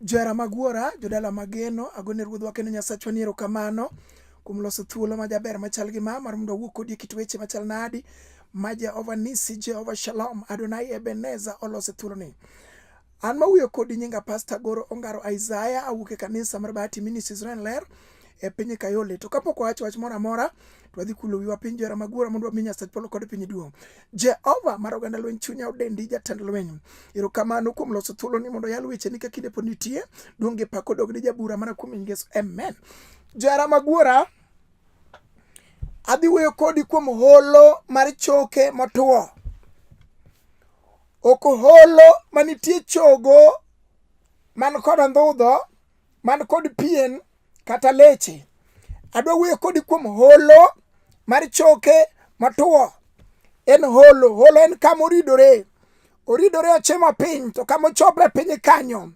Jara mag wuora, jodala mageno, agone ruodhwa kendo Nyasachwa ni erokamano kuom loso thuolo ma jaber machal gi ma mar mondo awuo kodi e kit weche machal nadi ma Jehova Nisi, Jehova Shalom, Adonai Ebeneza oloso thuoloni. An mawuoyo kodi nyinga Pasta Goro Ongaro Isaiah, awuok e kanisa mar Bahati Ministry Israel Ler e piny Kayole. To kapok wawacho wach moro amora, to wadhi kulo wiwa piny jora magwara mondo wami Nyasach polo kod piny duong'. Jehova mar oganda lweny chunya odendi jatend lweny. Erokamano kuom loso thuolo ni mondo yal weche ni ka kinde pod nitie. Duong' gi pak odog ni jabura mana kuom Yesu. Amen. Jara maguora adhi wuoyo kodi kuom holo mar choke motwo. Ok holo manitie chogo man kod andhudho man kod pien kata leche adwa wuoyo kodi kuom holo mar choke matuwo en holo holo en kama oridore oridore ochimo piny to kama ochopre piny kanyo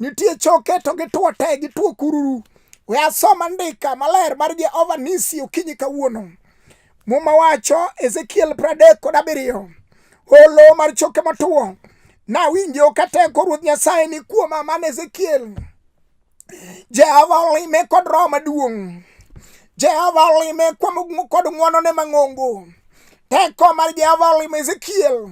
nitie choke to gituwo te gituwo kururu we asoma ndika maler mar jehova nisi okinyi kawuono Muma wacho Ezekiel pradek kod abiriyo olo mar choke motwo nawinjo ka teko ruoth nyasaye ni kuoma man ezekiel jehova olime kod roho maduong' jehova olime kod ng'wonone mang'ongo teko mar jehova olimo ezekiel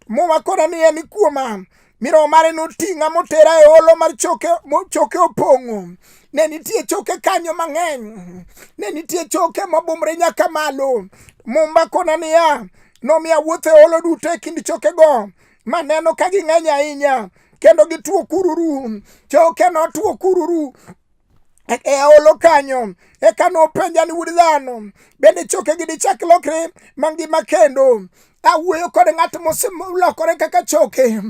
Muma kora ni en kuoma mi roho mare noting'a motera e holo mar choke choke opong'o ne nitie choke kanyo mang'eny ne nitie choke mobumre nyaka malo mumba kona niya nomiya wuoth e holo duto e kind chokego maneno ka ging'eny ahinya kendo gituo kururu choke notuo kururu e aolo kanyo eka nopenja ni wuod dhano bende chokegi dichak lokre mangima kendo awuoyo kod ng'at moselokore kaka choke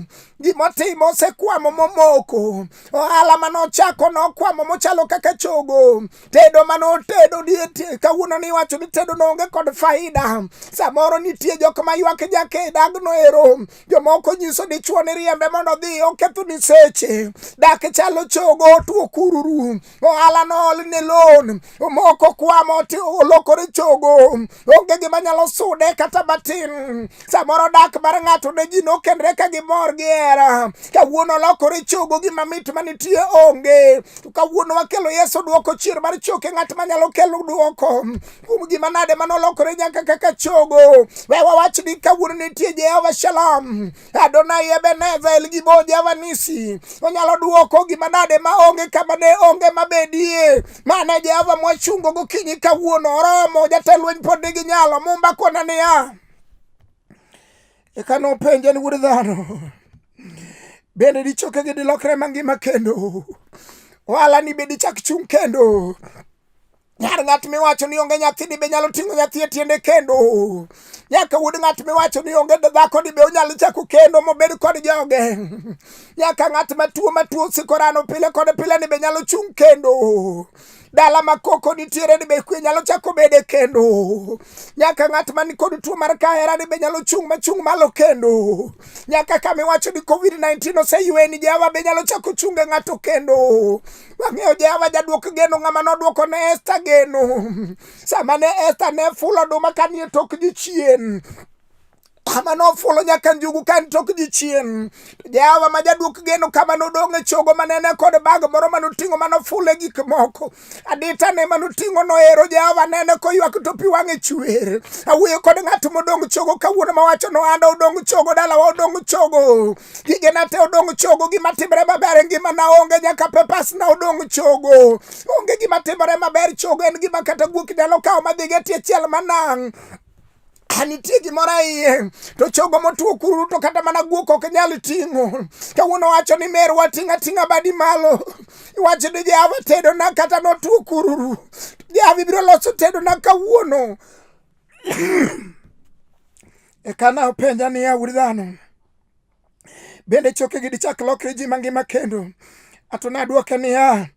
gimotimo osekwamo momoko ohala mane ochako nokwamo mochalo kaka chogo tedo mane otedo die kawuono ni iwacho ni tedo noonge kod faida samoro nitie jok ma ywak jakedagno ero jomoko nyiso dichwo ni riembe mondo odhi oketho ni seche dak chalo chogo otuo kururu ohala nool ni lon omoko kwamo ti olokore chogo onge gima nyalo sude kata matin samoro dak mar ng'ato ne ji nokendre ka gimor gi hera kawuono olokore chogo gima mit manitie onge to kawuono wakelo yesu dwoko chier mar choke ng'at manyalo kelo dwoko kuom gima nade ma nolokore nyaka kaka chogo we wawach ni kawuono nitie jehova shalom adonai ebeneza elgibo jehova nisi onyalo dwoko gima nade ma onge kama ne onge mabedie mane jehova mwachungo gokinyi kawuono oromo jatelweny pod nigi nyalo mumba kona niya eka nopenje ni wuod dhano bende dichokegi dilokre mangima kendo ohala ni be dichak chung' kendo Nyar ng'at miwacho ni onge nyathi dibe nyalo ting'o nyathi e tiende kendo. Nyaka wuod ng'at miwacho ni onge dhako dibe onyalo chako kendo mobed kod joge. Nyaka ng'at matuo matuo sikorano pile kod pile ni be nyalo chung' kendo. Dala ma koko nitiere ni be kwe nyalo chako bede kendo. Nyaka ng'at man kod tuo mar kahera ni be nyalo chung' machung' malo kendo. Nyaka kama iwacho ni Covid-19 oseywe ni Jehova be nyalo chako chunge ng'ato kendo. Wang'eyo Jehova jadwok geno ng'ama nodwoko ne Esta geno. Sama ne Esta ne fulo oduma ka nie tok jichien, kama nofulo nyaka njugu ka en tok jichien. Jehova ma jadwok geno kama nodong' e chogo ma nene kod bag moro ma noting'o ma nofulo e gik moko. Adita ne ma noting'o nohero Jehova nene koywak to pi wang'e chwer. Awuoyo kod ng'at modong' chogo kawuono mawacho no anda odong' chogo dalawa odong' chogo. Gigena te odong' chogo, gima timore maber e ngimana onge nyaka pepasna odong' chogo. Onge gima timore maber chogo en gima kata guok nyalo kawo madhigo e tie chiel manang'. nitie gimoro iye to chogo motuo kuru to kata mana guok ok nyal ting'o kawuono wacho ni mer wating' ating'a badi malo iwacho ni jehava tedona kata notuo kururu jehava ibiro loso tedona kawuono ekana openja niya wuod dhano bende chokegi dichak lokre ji mangima kendo ato nadwoke niya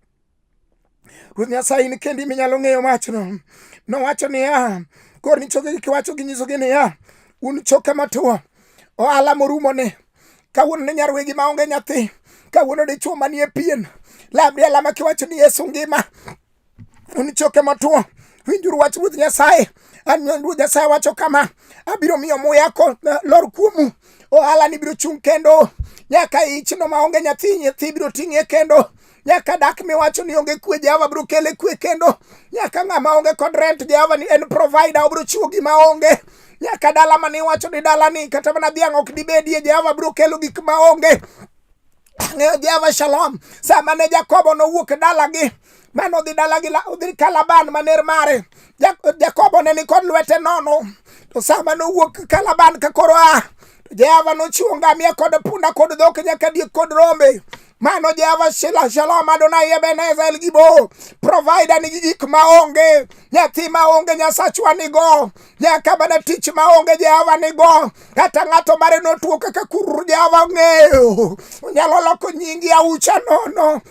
ruoth nyasaye in kendi minyalo ng'eyo machno nowacho niya kor ni chokegi kiwacho gi nyisogi niya un choke matuwo ohala morumo ni kawuono ne nyarwegi maonge nyathi kawuono dichuo manie pien lamri alama kiwacho ni yesu ngima Unichoke matuo, winjuru wach Ruoth Nyasaye. An Ruoth Nyasaye wacho kama, abiro miyo muya ko eh, lor kuomu, ohala ni biro chung' kendo nyaka ichno maonge nyathi nyathi biro ting'e kendo nyaka dak miwacho ni onge kwe jehova biro kele kwe kendo nyaka ng'ama onge kod rent jehova ni en provider obiro chiwo gima onge nyaka dala mane iwacho ni dala ni kata mana dhiang' ok dibedie jehova biro kelo gik ma onge Ang'eyo Jehova Shalom. Sama ne Jakobo nowuok e dalagi, mano odhi dalagi odhi Kalaban maner mare. Jakobo ne nikod lwete nono. To sama nowuok Kalaban ka koro a, Jehova nochiwo ngamia kod punda kod dhok nyaka diek kod rombe. Mano Jehova Shila Shalom Adonai Ebenezer El Gibo. Provider nigi gik ma onge, nyathi ma onge Nyasachwa nigo. nyaka mana tich ma onge jehova nigo kata ng'ato mare notuo kaka kururu jehova ong'eyo onyalo loko nyingi aucha nono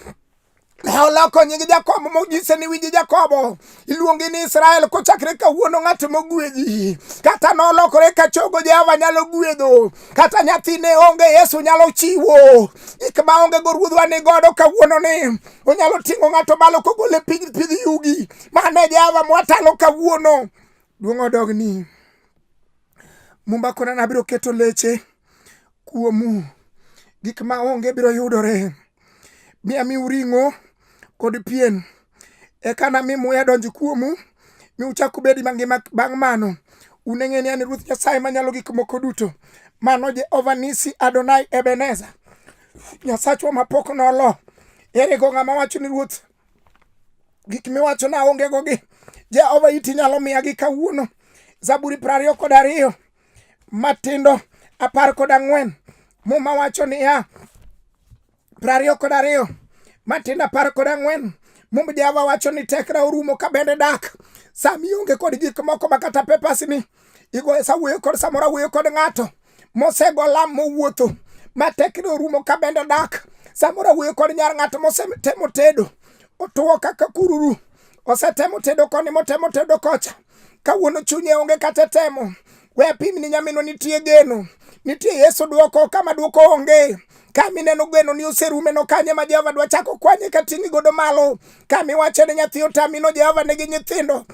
ne oloko nying jakobo monyise ni winji jakobo iluongi ni israel kochakre kawuono ng'at mogwedhi kata nolokore ka chogo jehova nyalo gwedho kata nyathine onge yesu nyalo chiwo gik ma onge go ruodhwa ni godo kawuono ni onyalo ting'o ng'ato malo kogole piny pidh yugi mane jehova mwatalo kawuono duong' odog ni mumba kona nabiro keto leche kuomu gik ma onge biro yudore mi amiu ring'o kod pien eka nami muya donj kuomu mi uchak ubedi mangima bang' mano uneng'e ni an ruoth nyasaye manyalo gik moko duto mano jehova nisi adonai ebeneza nyasachwa mapok nolo ere go ng'ama wacho ni ruoth gik miwacho na onge go gi Jehova iti nyalo miya gi kawuono Zaburi piero ariyo kod ariyo matindo apar kod ang'wen muma wacho niya piero ariyo kod ariyo matindo apar kod ang'wen mum Jehova wacho ni tekra orumo ka bende dak sami onge kod gik moko ma kata pepasni igoyo sa wuoyo kod samoro awuoyo kod ng'ato mosego lam mowuotho ma tekne orumo ka bende dak samoro awuoyo kod nyar ng'ato mosetemo tedo otuwo kaka kururu osetemo tedo koni motemo tedo kocha kawuono chunye onge kata temo we apim ni nyaminwa nitie geno nitie yesu dwoko kama dwoko onge kami neno gweno ni oserume no kanye ma Jehova dwa chako kwanye ka ting'i godo malo kami wacho ne nyathi otamino Jehova nigi nyithindo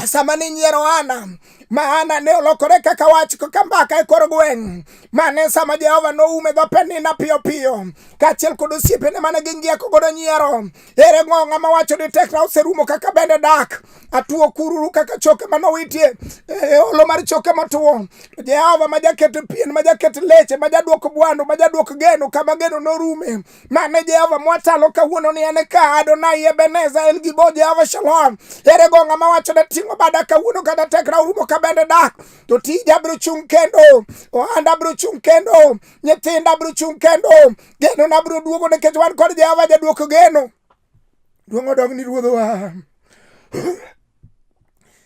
sama ninyiero Hana ma Hana ne olokore kaka wach kaka mbaka e kor gweng' mane sama Jehova noume dho penina piyo piyo kaachiel kod osiepene mane gingieko godo nyiero ere ng'o ng'ama wacho ni tekna oserumo kaka bende dak atuo kururu kaka choke manowitie e olo mar choke matuo to Jehova ma jaket pien ma jaket leche ma jadwok bwandu ma jadwok geno kama geno norume Mane Jehova mwatalo kawuono ni en ka Adonai Ebeneza El Gibo Jehova Shalom. Ere go ng'ama wacho ne ting'o bada kawuono kata tekra urumo ka bende dak. To tija biro chung' kendo. Ohanda biro chung' kendo. Nyithinda biro chung' kendo. Geno na biro duogo nikech wan kod Jehova jaduoko geno. Duong' odog ni ruodhowa.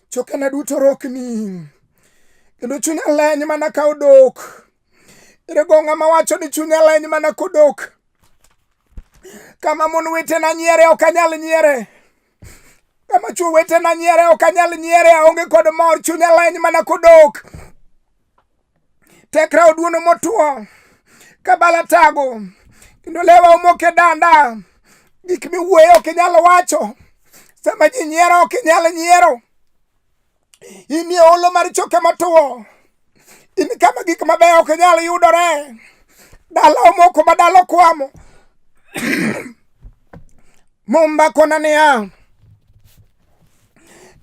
Chokena duto rokni. Kendo chunya leny mana ka odok. Ere go ng'ama wacho ni chunya leny mana kodok? Kama mon wetena nyiere ok anyal nyiere. Kama chwo wetena nyiere ok anyal nyiere, aonge kod mor, chunya leny mana kodok. Tekra oduono motwo, kabala tago, kendo lewa omok e danda. Gik miwuoyo ok inyal wacho, sama ji nyiero ok inyal nyiero. In e olo mar choke matuwo. In kama gik mabeyo ok nyal yudore. Dala omoko ma dala okwamo. Mumba kona niya,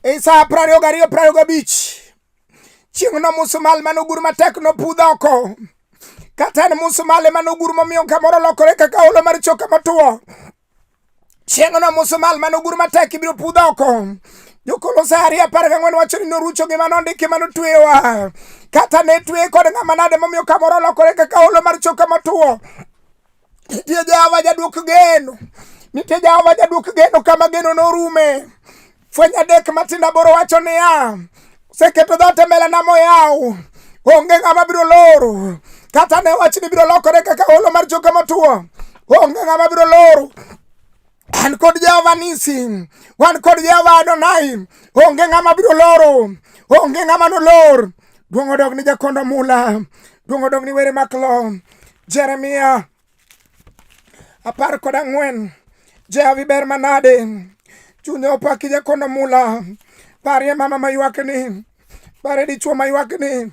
e sa apar ariyo gariyo apar ariyo gabich, chieng'no musumal mane ogur matek nopudh oko. Kata en musumal ema nogur momiyo kamoro lokore kaka olo mar choke matuwo. Chieng'no Musa mal mane ogur matek ibiro pudh oko. Jokolosi ariyo apar gang'wen wacho ni norucho gima nondiki ma notweyowa. Kata ne tweye kod ng'ama nade momiyo kamoro olokore kaka holo mar choka motwo. Nitie Jehova jadwok geno. Nitie Jehova jadwok geno kama geno norume. Fweny adek matindo aboro wacho niya, oseketo dhoot e mbelena moyaw, onge ng'ama biro loro. Kata ne wachni biro lokore kaka holo mar choke motwo, onge ng'ama biro loro. An kod Jehova Nisi, wan kod Jehova Adonai, onge ng'ama biro loro, onge ng'ama nolor. Duong' odog ni jakondo mula, duong' odog ni were maklo. Jeremia apar kod ang'wen jehavi ber manade chunye opaki jakono mula parie mama maywakni pare dichuo maywakni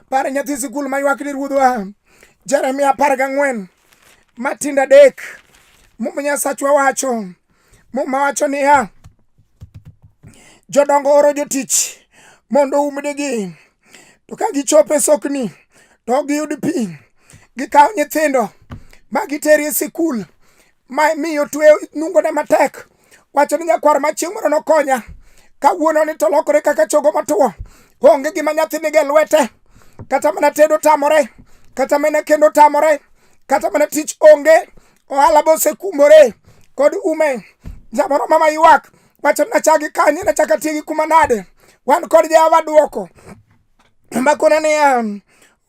pare nyathi sikul maywakni ruodhwa jeremia apar gang'wen matindo adek muma nyasachwa wacho muma wacho niya jodongo oro jotich mondo umnigi to ka gichopo e sokni to ok giyud pi gikawo nyithindo ma giteri e sikul ma miyo tweyo nungone matek wacho ni nyakwar ma chieng' moro nokonya kawuono ni to lokore kaka chogo matuwo onge gima nyathi nige lwete kata mana tedo tamore kata mana kendo tamore kata mana tich onge ohala bosekumbore kod ume samoro mama ywak wacho nachagi kanye nachaka tiegi kuma nade wan kod jehova dwoko makona niya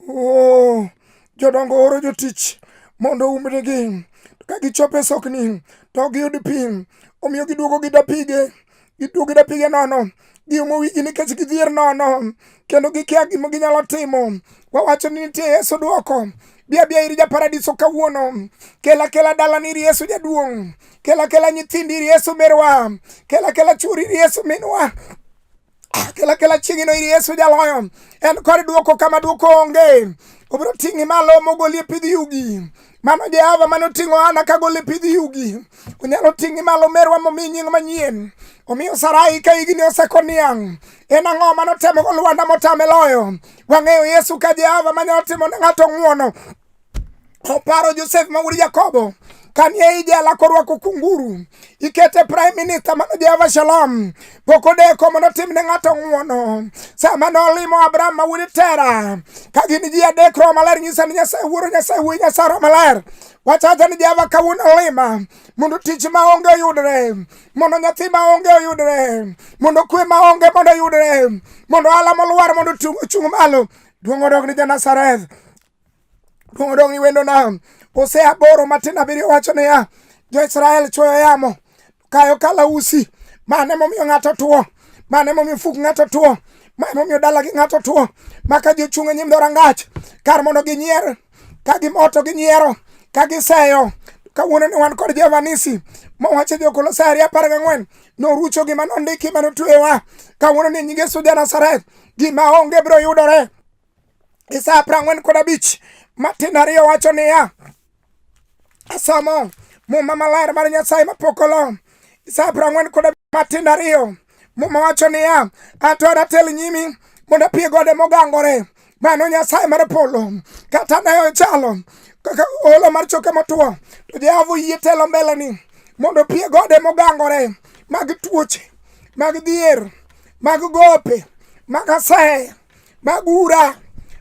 oh, jodongo oro jotich mondo umnigi ka gichopo e sokni to ok giyud pi omiyo giduogo gi dapige giduogo gi dapige nono giumo wigi nikech gidhier nono kendo gikia gima ginyalo timo wawacho ni nitie yesu dwoko Bia bia ir japaradiso kawuono. Kela kela dalani ir Yesu jaduong'. Kela kela nyithindi ir Yesu merwa. Kela kela churi ir Yesu minwa. Kela kela chieng'ino ir Yesu jaloyo. En kod duoko kama duoko onge. Obiro ting'i malo mogoli e pidh yugi. Mano Jehova mane oting'o Hana kagolo e pidh yugi. Onyalo ting'i malo merwa momi nying manyien. Omiyo Sarai ka higni osekoniang'. en ang'o ma notemo go lwanda motame loyo wang'eyo yesu ka jehova manyalo timo ne ng'ato ng'uono oparo josef ma wuod jakobo kanie ijela korwako kunguru ikete prime minister mano jehova shalom pok odeko mondo otim ne ng'ato ng'uono sama nolimo abraham ma wuod tera ka gin ji adek roho maler nyisa ni nyasaye wuoro nyasaye wuoyi nyasaye roho maler wachacha ni jehova kawuono lima mondo tich ma onge oyudre mondo nyathi ma onge oyudre mondo kwe ma onge mondo oyudre mondo ala molwar mondo ochung' malo duong' odog ni janasareth duong' odog ni wendona ose aboro matin abiriyo wacho niya jo-israel chuoyo yamo kayo kalausi mane momiyo ng'ato tuo mane momiyo fuk ng'ato tuo mane momiyo dalagi ng'ato tuo maka jochung' e nyim dhorangach kar mondo ginyier ka gimoto gi nyiero ka giseyo kawuono ni wan kod Jehova Nisi mowacho Jokolosai apar gang'wen norucho gima nondiki ma notuewa kawuono ni nyinge Suja Nazareth gima onge biro yudore isa apar ang'wen kod abich matin ariyo wacho niya asomo muma maler mar Nyasaye mapok olom isa apar ang'wen kod abich matin ariyo Muma wacho niya, atora tel nyimi mondo apie gode mogangore. Mano Nyasaye mar polo kata ne ochalo kaka olo mar choke motwo, to Jehova oyie telo mbeleni mondo opie gode mogangore mag tuoche, mag dhier, mag gope, mag aseye, mag ura,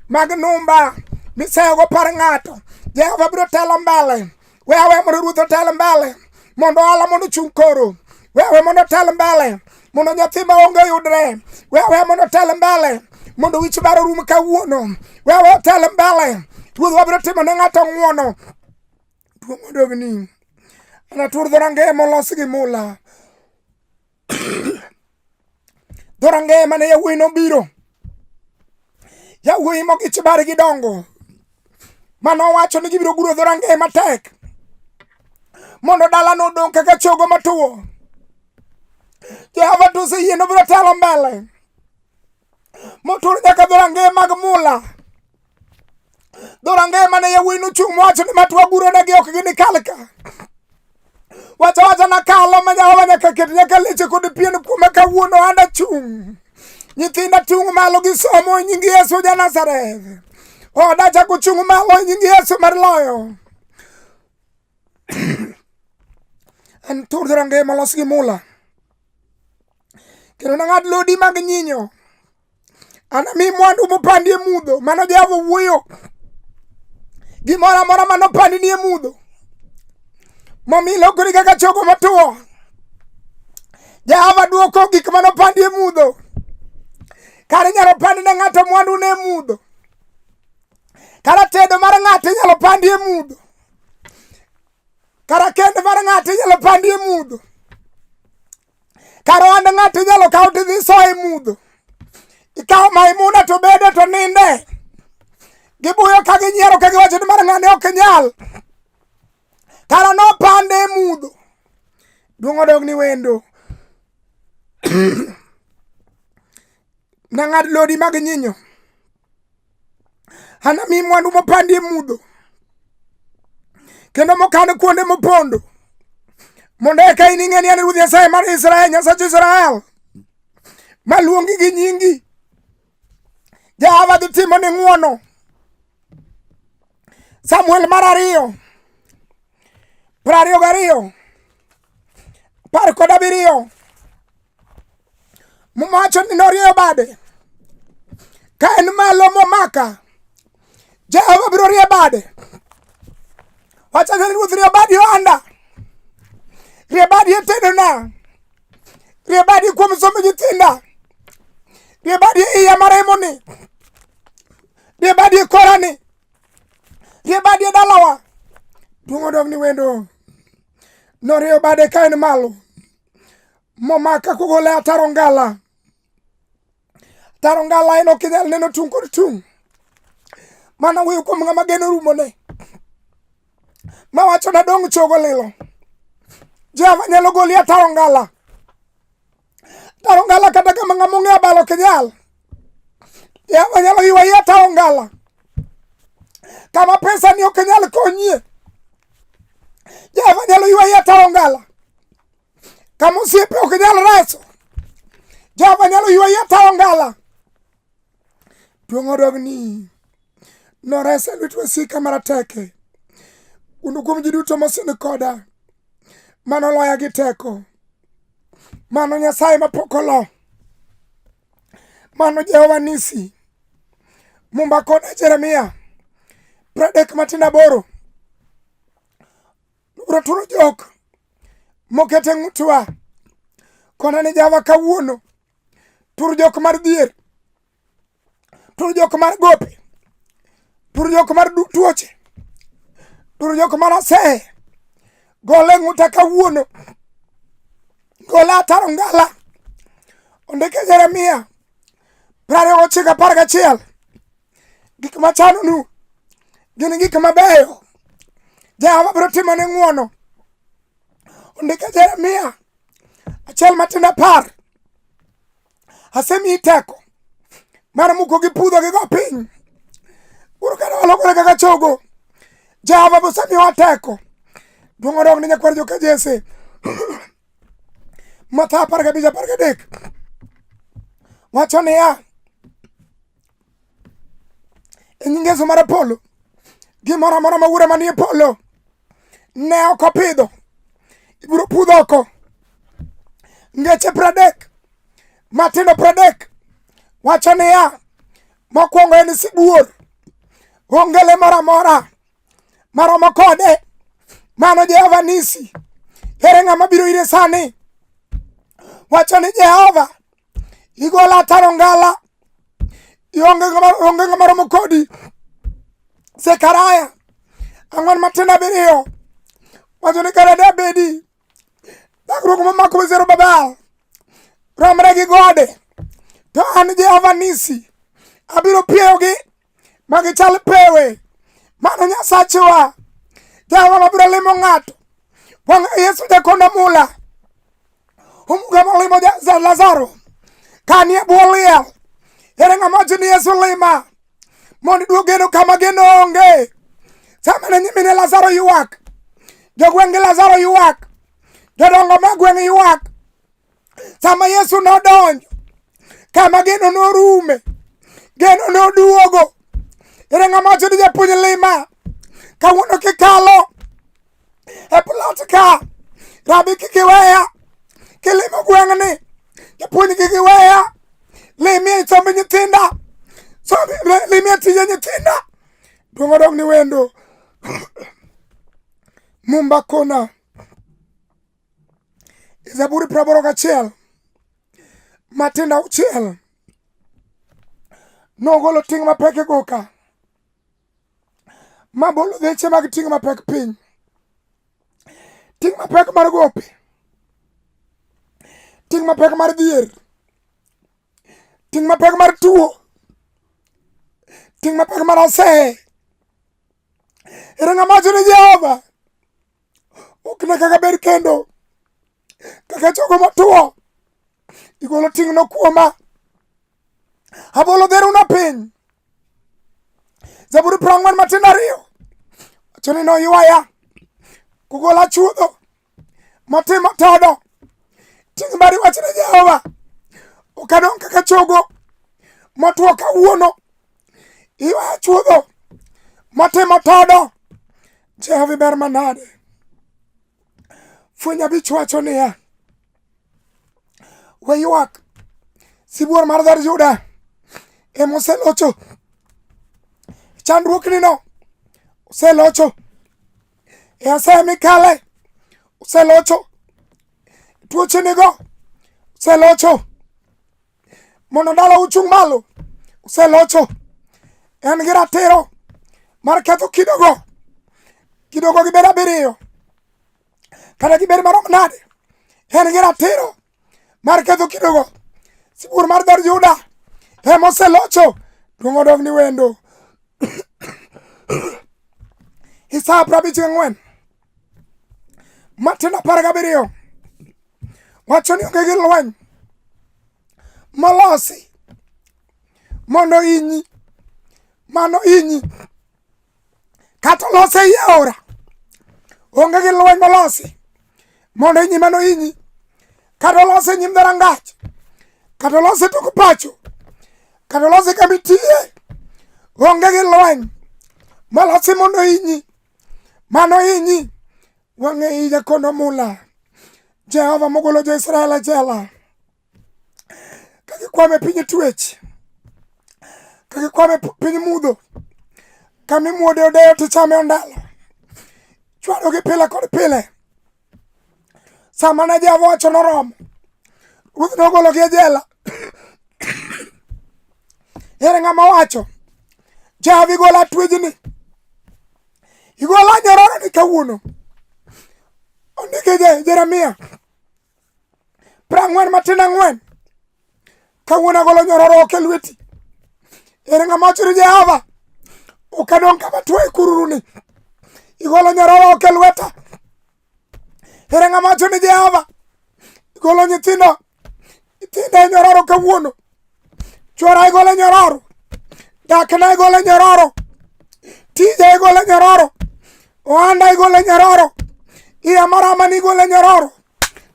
mag numba miseyogo par ng'ato. Jehova biro telo mbele we awe mondo ruoth otel mbele mondo ohala mondo ochung' koro we awe mondo otel mbele mondo nyathi ma onge yudre we awe mondo otel mbele mondo wich bar orum kawuono we awe otel mbele ruoth wabiro timo ne ng'ato ng'uono duong' odogni anatur dho rangeye molos gi mula dhorangeye mane yawuoyi nobiro yawuoyi mogich bare gi dongo mane owacho ni gibiro guro dhorangeye matek mondo dalano odong' kaka chogo matuwo jehova to oseyie nobiro telo mbele motur nyaka dhorangeye mag mula dhorangeye mane yawuoyi nochung' mowacho ni matwa guronegi ok ginikal ka wacha wacha nakalo ma Jehova nyaka ket nyaka leche kod pien kuome kawuono an achung' nyithinda tung' malo gi somo e nying Yesu ja Nazareth oda chako chung' malo e nying Yesu mar loyo en tur dhorangeye molos gi mula kendo nang'ad lodi mag nyinyo anami mwandu mopandi e mudho mano jehova wuoyo gimoro amora mano pandi ni e mudho momi lokori kaka chogo matuwo jehova dwoko gik mano pandi e mudho kare inyalo pandi ne ng'ato mwandu ne e mudho kata tedo mar ng'ato inyalo pandi e mudho Kar kend mar ng'ato inyalo pandi e mudho. Kar ohand ng'ato inyalo kaw to idhi soye mudho. Ikawo Maimuna to bede to ninde. Gibuyo ka ginyiero ka giwacho ni mar ng'ani ok nyal. Kara nopande e mudho. Duong' odog ni wendo. Nang'ad lodi mag nyinyo, anami mwandu mopandi e mudho, kendo mokan kuonde mopondo, mondo eka ining'e ni an Ruoth Nyasaye mar Israel, Nyasach Israel, maluongi gi nyingi. Jehova dhi timo ni ng'wono. Samuel mar ariyo, piero ariyo gariyo, apar kod abiriyo mowacho ni norieyo bade ka en malo momaka jehova biro rie bade wachane ruoth rie badi ohanda rie badi e tedona rie badi kuom somo nyithinda rie badi e iya maremoni rie badi e korani rie badi e dalawa duong' odog ni wendo norieyo bade ka en malo momaka kogole ataro ngala ataro ngala en ok inyal neno tung' kod tung' mana wuoyo kuom ng'ama geno rumone ma wacho nadong' chogo lilo jehova nyalo goli ataro ngala Taro ngala kata kama ng'ama ong'e abalo ok nyal. Ya wanyalo yiwa yie taro ngala. Kama pesa ni ok nyal konyie. Ya wanyalo yiwa yie taro ngala. Kama osiepe ok nyal reso. Ya wanyalo yiwa yie taro ngala. Duong' odogni. noresa e lwet wasika marateke kuno kuom ji duto mosin koda mano loya gi teko mano nyasaye mapok olo mano jehova nisi mumba koda jeremia pradek matin aboro nobro turo jok mokete ng'utwa kona ni java kawuono tur jok mar dhier turu jok mar gope turu jok mar tuoche turu jok mar asehe gole ng'uta kawuono gole ataro ngala ondike jeremia prariyo gochiko apar gachiel gik machanonu gin gik mabeyo jehova biro timo ne ng'uono ondike jeremia achiel matindo apar asemiyi teko mar muko gi pudho gi go piny uru kane walokore kaka chogo jehova bosemiyowa teko duong' odog ne nyakwar joka jese matha apar gabich apar gadek wacho niya e nying Yesu mar Apollo gimoro amora ma ure manie polo ne ok opidho ibiro pudh oko ngeche pradek matindo pradek wacho niya mokwongo en sibuor onge le moro amora maromo kode mano jehova nisi ere ng'ama biro ire sani wacho ni jehova igola ataro ngala ionge ng'ama romo kodi sekaraya ang'wen matindo abiriyo wacho ni kare da bedi dhakruok momako bezero babal romre gi gode to an jehova nisi abiro pieyogi ma gichal pewe mano nyasachewa jehova mabiro limo ng'ato wang'a yesu jakonda mula omuga molimo lazaro kanie bwo liel ere ng'ama wacho ni yesu lima mondo iduog geno kama geno onge sama ne nyimine lazaro ywak jogweng' gi lazaro ywak jodongo ma gweng' ywak sama Yesu nodonjo kama geno norume, geno noduogo. Ere ng'ama wacho ni japuonj lima kawuono kikalo e plot ka rabi kik iweya kilimo gweng'ni japuonj kik iweya limie somb nyithinda limie tije nyithinda duong' odog ni wendo mumba kona E Zaburi praboro gachiel matindo auchiel nogolo ting' mapek e goka ma bolo dheche mag ting' mapek piny ting' mapek mar gope ting' mapek mar dhier ting' mapek mar tuo ting' mapek mar aseye ere ng'ama wacho ni jehova ok ne kaka ber kendo kaka chogo matuwo igolo ting'no kuoma abolo dheruna piny zaburi piero ang'wen matindo ariyo wacho ni noywaya kugola chuodho matimo todo ting' mari wach ne jehova ok adong' kaka chogo motwo kawuono iwaya chuodho matimo todo Jehova iber manade. Fweny abich wacho niya, we ywak sibuor mar dher Juda ema oselocho chandruoknino oselocho e asaya mikale oselocho tuochenigo oselocho mondo dala uchung' malo uselocho en gi ratiro mar ketho kidogo kidogo gibed abiriyo kata gibed marom nade en gi ratiro mar ketho kidogo sibuor mar dhod juda ema oselocho duong' odog ni wendo isaya prabich ang'wen matindo apar gabiriyo wacho ni onge gi lweny molosi mondo inyi mano inyi kata olose ei aora onge gi lweny molosi mondo inyi mano inyi kata olose nyim dharangach kata olose tok pacho kata olose kama itie onge gi lweny molosi mondo inyi Mano inyi wang'e ija kono mula Jehova mogolo jo Israel e jela kagikwame piny twech kagikwame piny mudho kamimuode odeyo tichame ondalo chwadogi pile kod pile sama ne Jehova wacho noromo, ruoth nogologi e jela. Ere ng'ama wacho Jehova igola twejni, igola nyororoni kawuono. Ondike Jeremia prang'wen matin ang'wen Kawuono agolo nyororok e lweti. Ere ng'ama wacho ni Jehova ok adong' kama tuo e kururuni. Igolo nyororok e lweta. Ere ng'ama wacho ni Jehova igolo nyithindo nyithindo e nyororo kawuono. Chwora igolo e nyororo. Dakna igolo e nyororo. Tija igolo e nyororo. Ohanda igolo e nyororo. Iya marama ni igolo e nyororo.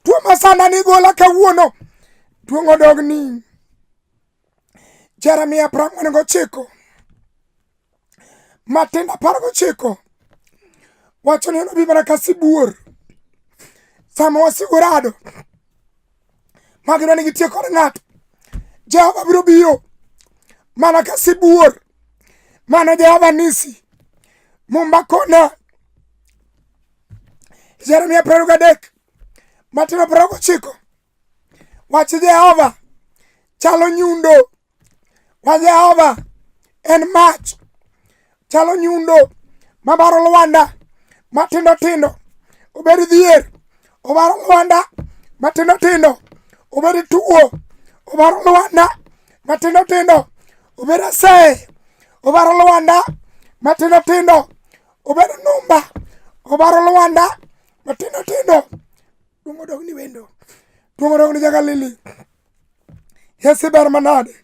Tuo masanda ni igolo kawuono. Duong' odog ni Jeremia apar ang'wen gochiko Matindo apar gochiko wacho ni obi mana ka sibuor sama wasigu rado ma gidwa ni gitie kod ng'ato Jehova biro biro mana ka sibuor mano Jehova nisi mumba kona Jeremia apar gadek Matindo apar gochiko Wach Jehova chalo nyundo. Wach Jehova en mach. Chalo nyundo mabaro lwanda matindo tindo obed dhier obaro lwanda matindo tindo obed tuo obaro lwanda matindo tindo obed aseye obaro lwanda matindo tindo obed numba obaro lwanda matindo tindo Duong' odog ni wendo. Duong' odog ni jagalili. Yesi ber manade.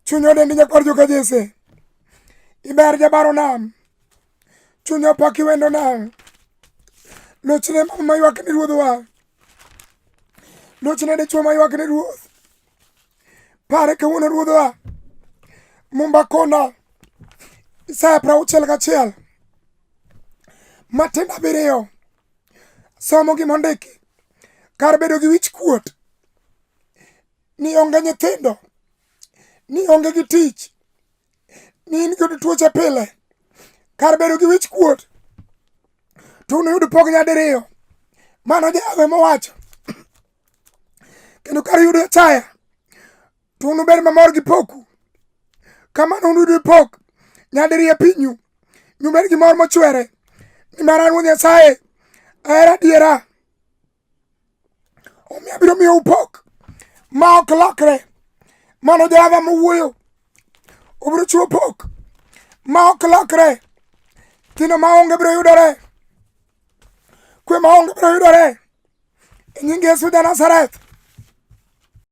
Chuny odendi nyakwar joka Jese. Iber jabaro nam. Chuny opaki wendo nam. Lochne mama maywak ni ruodhwa. Lochne dichwo maywak ni ruoth. Pare kawuono ruodhwa. Mumba kona. Isaya prauchiel gachiel. Matenda biriyo. somo gima ondiki kar bedo gi wich kuot ni onge nyithindo ni onge gi tich ni in kod tuoche pile kar bedo gi wich kuot to unuyud pok nyadiriyo mano jawe mowacho kendo kar yudo chaya to unubed mamor gi poku kamano unuyud ipok nyadiriyo e pinyu nyubed gi mor mochwere nimar an wuod nyasaye ahera adiera omiyo abiro miyo upok ma ok lokre mano jehova mowuoyo obiro chiwo pok ma ok lokre kino ma onge biro yudore kwe ma onge biro yudore e nying yesu ja nazareth